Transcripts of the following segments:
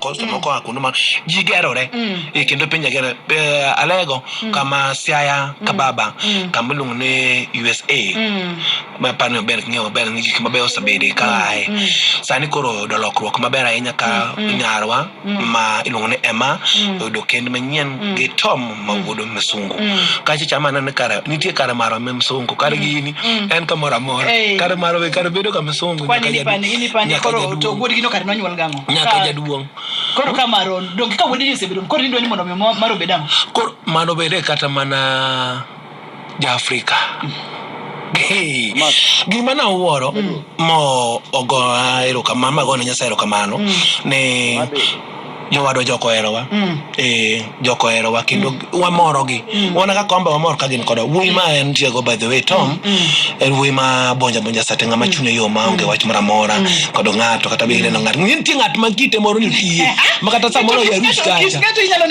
koso moko a kuno ma ji gerore e kendo piny agere alego kama siaya kababa kama iluongo ni usa ma pani maber king'eyo maber ni gik mabeyo osebede ka aye sani koro oyudo lokruok maber ahinya ka nyarwa ma iluongo ni ema oyudo kend manyien gi tom ma wuodo misungu kacha chama aneno kare nitie kare marwa me misungu kare gini en kamoro amora Ei. kare marwa be kare bedo ka misungu Kwani nyaka ni pani, jaduong'. ni pani Nyaka koro jaduong'. to wuodgi no kare nonyuol gang'o? nyaka jaduong' koro ka maron donge ka wuodeni osebedo koro indwa ni mondo mi mar obed ang'o koro mano bede kata mana jaafrika Hey, gima na wuoro mm. mo ogo erokamano magone nyasaye erokamano mm. ni jowadwa joko herowa mm. eh, joko herowa kendo mm. wamorogi mm. wana kaka wamba wamor ka gin kodwa wuoyi ma en tiego by the way tom mm. mm. en wuoyi ma bonja bonja sate ng'ama mm. chunye yo ma onge mm. wach moro amora mm. kod ng'ato kata be ineno ng'ato nitie ng'at ma kite moro ni kiye ma kata samoro ya rus kacha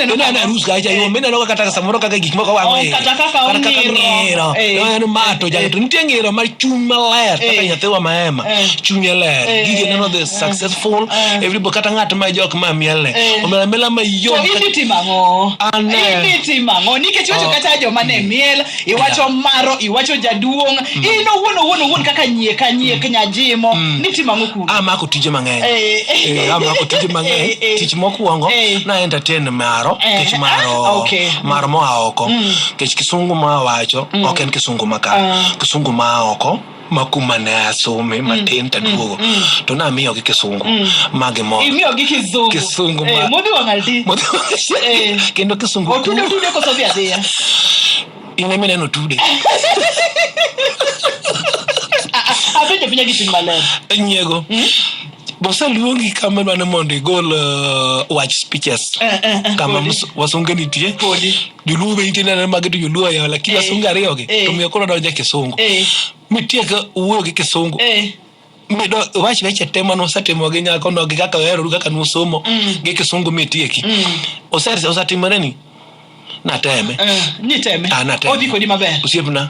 to na na rus kacha yo mena no kata samoro kaka gik moko wango ye oh, kata kaka ongiro eh. no en mato ja eh. to nitie ngiro ma chuny maler kaka eh. nyathi wa maema chunye ler gige neno this successful everybody kata ng'at ma jok ma miel ne Eh. omela mela ma To yom idhi timo ang'o? An, eh. Idhi timo ang'o? Nikech iwacho Oh. kata joma ne miel, iwacho maro, iwacho jaduong', in owuon owuon owuon kaka nyiek anyiek nyajimo, nitimo ang'o kuno? amako tije mang'eny Eh, eh. Eh, amako tije Eh, mang'eny eh. tich mokwongo Eh. na entertain maro Eh, kech ah, maro okay. maro moa oko kech kisungu ma wacho ok en kisungu maka Ah. kisungu ma oko ma kuma ne asome mm, matin mm, taduogo mm. to namiyo gi kisungu ma gimor imiyo gi kisungu kisungu eh, ma modhi wang' aldi eh. kendo kisungu otude otude koso dhi adhiya in ema ineno tude apenjo pinya gi chuny maler nyiego boseluongi kama idwa ni mondo igol uh, wach speeches eh, kama wasunge nitie joluo be iti nene magi to joluo yawa lakini eh, wasunge ariyo gi eh. to miyo koro donje kisungu eh. mitiek wuoyo gi kisungu mido wach weche te mane usetimo gi nyako no gi kaka uheroru kaka nusomo mm. gi kisungu mitieki mm. osetimore ni nateme niteme ah, nateme odhi kodi maber osiepna